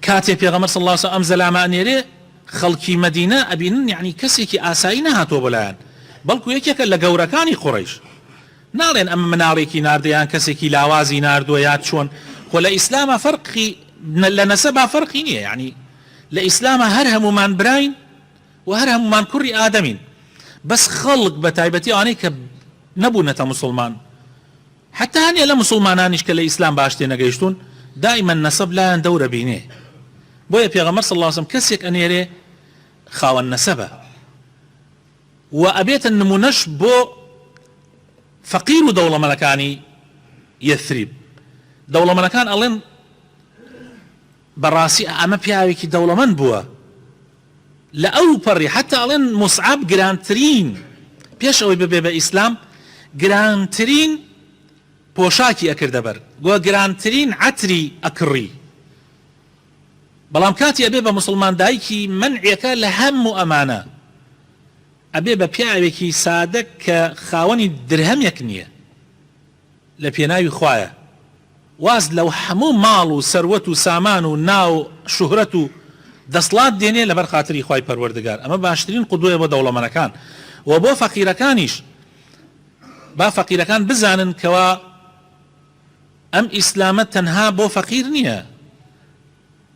کاتێ پێغەمبەر صلی اللە علیە وسلم ئەم زەلامە ئەنێرێ خەڵکی مەدینە ئەبینن یەعنی کەسێکی ئاسایی نەهاتووە بۆ لایان بەڵکو یەکێکە لە گەورەکانی قوڕەیش ناڵێن ئەمە مناڵێکی ناردە یان کەسێکی لاوازی ناردووە یا چۆن خۆ لە ئیسلامە فەرقی لە نەسەبا فەرقی نییە یعنی لە ئیسلامە هەر هەمومان براین و هەر هەمومان کوڕی ئادەمین بەس خەڵک بە تایبەتی ئەوانەی کە نەبوونەتە موسڵمان حەتتا هەنێ لە موسڵمانانیش کە لە ئیسلام باش تێنەگەیشتوون دائیمەن نەسەب لایان دەور ئەبینێ بۆیە پێغەمبەر صلی اللە علیە وسلم کەسێک ئەنێرێ خاوەن نەسەبە و ئەبێتە نمونەش بۆ فەقیر و دەوڵەمەنەکانی یەثریب دەوڵەمەنەکان ئەڵێن بەڕاستی ئەمە پیاوێکی دەوڵەمەند بووە. لە ئەو پەڕی حەتا ئەڵێن موسعەب گرانترین پێش ئەوەی ببێ بە ئیسلام گرانترین پۆشاکی ئەکردە بەر گۆ گرانترین عەتری ئەکڕی بەڵام کاتی ئەبێ بە موسڵمان دایکی مەنعێکە لە هەم و ئەمانە ئەبێ بە پیاوێکی سادە کە خاوەنی درهەمێک نییە لە پێناوی خوایە واز لە هەموو ماڵ و سەروەت و سامان و ناو و شوهرەت و دەسڵات دێنێ لەبەر خاتری خوای پەروەردگار ئەمە باشترین قودوەیە بۆ دەوڵەمەنەکان و بۆ فەقیرەکانیش با فەقیرەکان بزانن کەوا ئەم ئیسلامە تەنها بۆ فەقیر نیە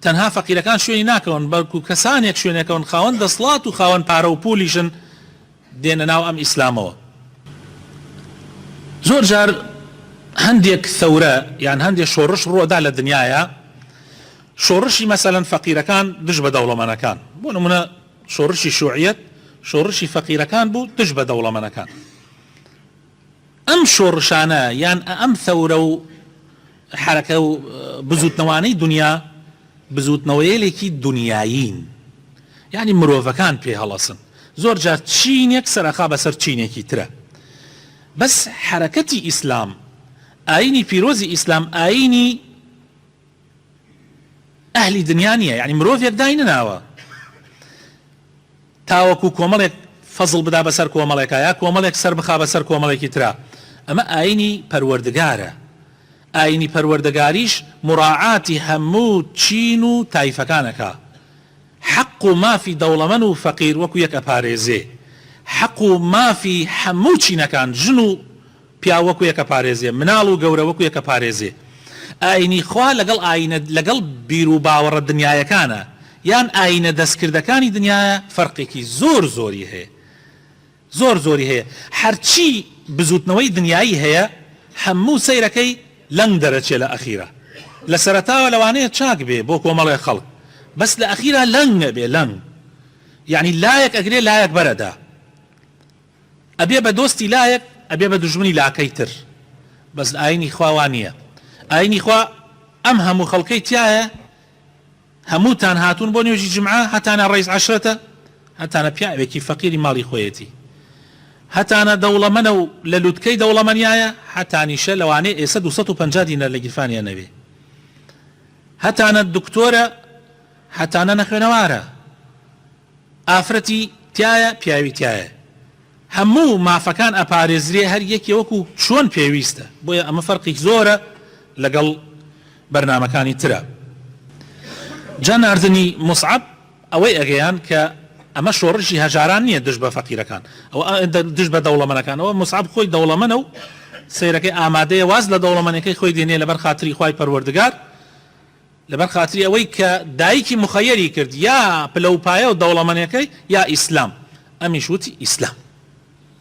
تەنها فەقیرەکان شوێنی ناکەون بەلکو کەسانێک شوێنەکەون خاوەن دەسڵات و خاوەن پارە و پولیشن دێنە ناو ئەم ئیسلامەوە زۆر جار هەندێک ثەورە یان هەندێک شۆرش ڕوەدا لە دنیایا شۆرشی مەسەلەن فەقیرەکان دژ بە دەوڵەمەنەکان بۆ نمونە شۆرشی شوعیەت شۆرشی فەقیرەکان بوو دژ بە دەوڵەمەنەکان ئەم شۆڕشانە یان ئەم ثەورە و حەرەکە و بزووتنەوانەی دونیا بزووتنەوەیەلێکی دونیایین یانی مرۆڤەکان پێ هەڵەسن زۆر جار چینێک سەرئەخا بەسەر چینێکی ترە بەس حەرەکەتی ئیسلام ئاینی پیرۆزی ئیسلام ئاینی ئەهلی دنیا نیە یانی مرۆڤێک دای نەناوە تاوەکو کۆمەڵێک فەزڵ بدا بەسەر کۆمەڵێکا یا کۆمەڵێک سەر بخا بەسەر کۆمەڵێکی ترا ئەمە ئاینی پەروەردگارە ئاینی پەروەردەگاریش مراعاتی هەموو چین و تایفەکانەکە حەق و مافی دەوڵەمەن و فەقیر وەکو یەک ئەپارێزێ حەق و مافی هەموو چینەکان ژن و پیاو وەکو یەکە پارێزێ مناڵ و گەورە وەکو یەکە پارێزێ ئاینی خوا لەگەڵ ئاینە لەگەڵ بیرو باوەڕە دنیایەکانە یان ئاینە دەستکردەکانی دنیایە فەرقێکی زۆر زۆری هەیە زۆر زۆری هەیە هەرچی بزوتنەوەی دنیایی هەیە هەموو سەیرەکەی لەنگ دەرەچێ لە ئەخیرا لە سەرەتاوە لەوانەیە چاک بێ بۆ کۆمەڵێ خەڵک بەس لە ئەخیرا لەنگ ئەبێ لەنگ یانی لایەک ئەگرێ لایەک بەرئەدا. ئەبێ بە دۆستی لایەک ئەبێ بە دوژمنی لاکەی تر بەس لە ئاینی خوا وا نیە ئاینی خوا ئەم هەموو خەڵکەی تیایە هەمووتان هاتوون بۆ نوێژی جمعە هەتانە ڕیس عەشرەتە هەتانە پیاوێکی فەقیری ماڵی خۆیەتی هەتانە دەوڵەمەنە و لە لوتکەی دەوڵەمەنیایە هەتانیشە لەوانەیە ئێسە دوو سەد و پەنجا دینار لە گیرفانیا نەبێ هەتانە دکتۆرە هەتانە نەخوێنەوارە. ئافرەتی تیایە پیاوی تیایە هەموو مافەکان ئەپارێزرێ هەر یەکێ وەکو چۆن پێویستە بۆیە ئەمە فەرقی زۆرە لەگەڵ بەرنامەکانی ترا جا ناردنی موسعەب ئەوەی ئەگەیاند کە ئەمە شۆڕشی هەژاران نیە دژ بە فەقیرەکان ئەوە دژ بە دەوڵەمەنەکان ئەوە موسعەب خۆی دەوڵەمەنە و سەیرەکەی ئامادەیە واز لە دەوڵەمەنەکەی خۆی دێنێ لەبەر خاتری خوای پەروەردگار لەبەر خاتری ئەوەی کە دایکی مخەیەری کرد یا پلەوپایەو دەوڵەمەنێکەی یا ئیسلام ئەمیش وتی ئیسلام.